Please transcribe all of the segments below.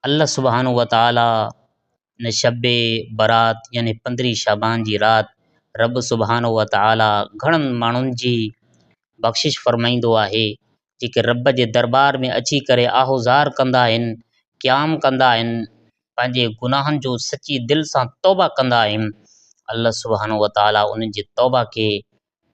الله سبحانه وتعالي ان شب برات يعني پندرهين شعبان جي رات رب سبحانه وتعالي گهڻن ماڻهن جي بخشش فرمائيندو آهي جيڪي رب جي دربار ۾ اچي ڪري آهوزار ڪندا آهن، قيام ڪندا آهن، پنهنجي گناهن جو سچي دل سان توبه ڪندا آهن، الله سبحانه وتعالي انهن جي توبه کي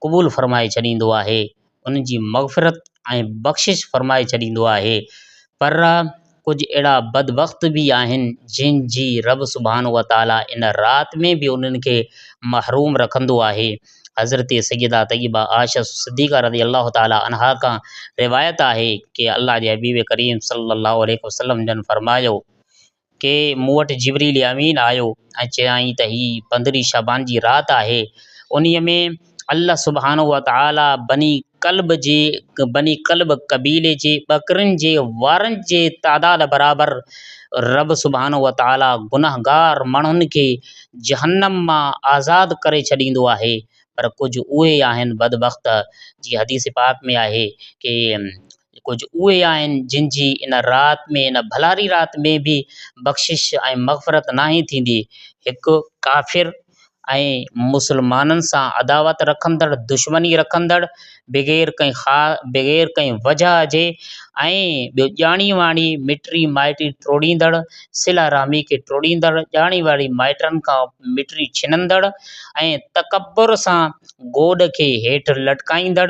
قبول فرمائي ڇڏيندو آهي، انهن جي مغفرت ۽ بخشش فرمائي ڇڏيندو آهي، پر ڪجهه اهڙا بدبخت به آهن جن جي رب سبحانه وتعاليٰ ان رات ۾ به انهن کي محروم رکندو آهي، حضرت سيده طيبه عائشه صديقه رضي الله تعاليٰ عنها کان روايت آهي ڪي الله جي حبيب ڪريم صلي الله عليه وسلم جن فرمايو، ڪي مون وٽ جبريل امين آيو ۽ چيائين ته هي پندرهين شعبان جي رات آهي انهي ۾ الله سبحانه وتعالٰي بني ڪلب جي بني ڪلب قبيلي جي ٻڪرين جي وارن جي تعداد برابر رب سبحانه وتعالٰي گنهگار ماڻهن کي جهنم مان آزاد ڪري ڇڏيندو آهي پر ڪجهه اهي آهن بدبخت جي حديث پاڪ ۾ آهي ڪي ڪجهه اهي آهن جن جي ان رات ۾ ان ڀلاري رات ۾ به بخشش ۽ مغفرت ناهي ٿيندي. هڪ ڪافر ۽ مسلمانن سان عداوت رکندڙ، دشمني رکندڙ، بغير ڪنهن خا بغير ڪنهن وجهه جي ۽ ٻيو ڄاڻي واڻي مٽري مائٽي ٽوڙيندڙ، صله رحمي کي ٽوڙيندڙ، ڄاڻي واڻي مائٽن کان مٽري ڇنندڙ ۽ تڪبر سان گوڏ کي هيٺ لٽڪائيندڙ،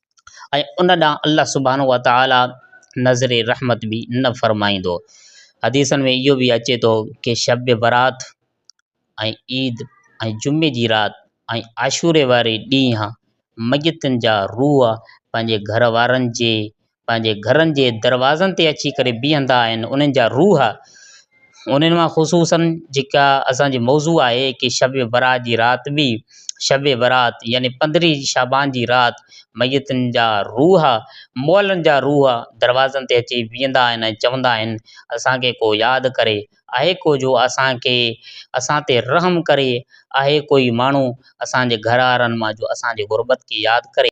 ۽ ان ڏانهن الله سبحانه وتعالٰي نظر رحمت به نه فرمائيندو. حديثن ۾ اهو به اچي ٿو ته شب برات ۽ عيد ۽ جمعي جي رات ۽ عاشوري واري ڏينهن ميتن جا روح پنهنجي گهر وارن جي پنهنجي گهرن جي دروازن تي اچي ڪري بيهندا آهن، انهن جا روح انهن مان خصوصاً جيڪا اسان جي موضوع آهي ڪي شب برات جي رات به شب برات يعني پندرهين شعبان جي رات ميتن جا روح مئلن جا روح دروازن تي اچي بيهندا آهن ۽ چوندا آهن اسان کي ڪو ياد ڪري آهي ڪو جو اسان کي اسان تي رحم ڪري آهي ڪوئي ماڻهو اسان جي گهر وارن مان جو اسان جي غربت کي ياد ڪري.